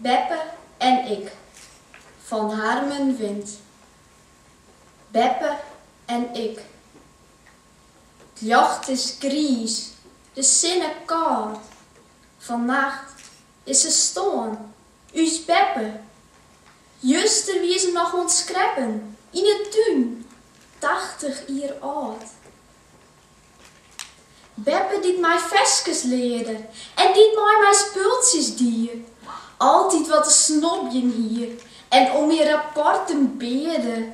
Beppe en ik, fan Harmen Wind. Beppe en ik. 't Ljocht is griis, de sinne kâld. Fannacht is se stoarn, ús Beppe. Juster wie se noch oan 't skreppen yn 'e tún, tachtich jier âld. Beppe dy't my ferskes learde. En dy't mei my spultsjes die. Altyd wat te snobjen hie. En om myn rapporten bearde.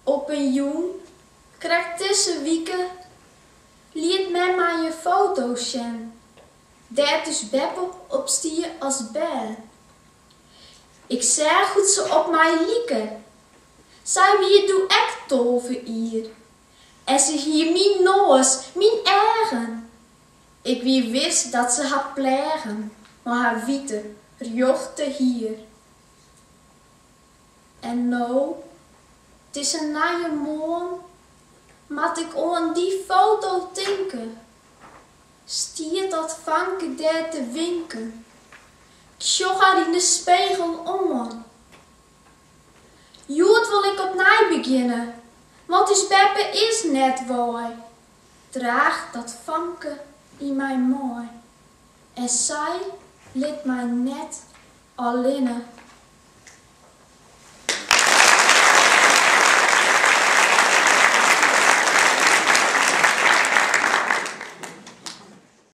Op in jûn, krekt dizze wike. Liet mem my in foto sjen. Dêr't ús Beppe op stie as bern. Ik seach hoe't se op my like. Sy wie doe ek tolve jier en se hie myn noas, myn eagen. Ik wie wis dat se har pleagen mei har wite, rjochte hier. En no, 't is in nije moarn, moat ik oan dy foto tinke. Stiet dat famke dêr te winken. 'k Sjoch har yn de spegel oan. Hjoed wol ik opnij begjinne, want ús beppe is net wei. Draach dat famke yn my mei en sy lit my net allinne.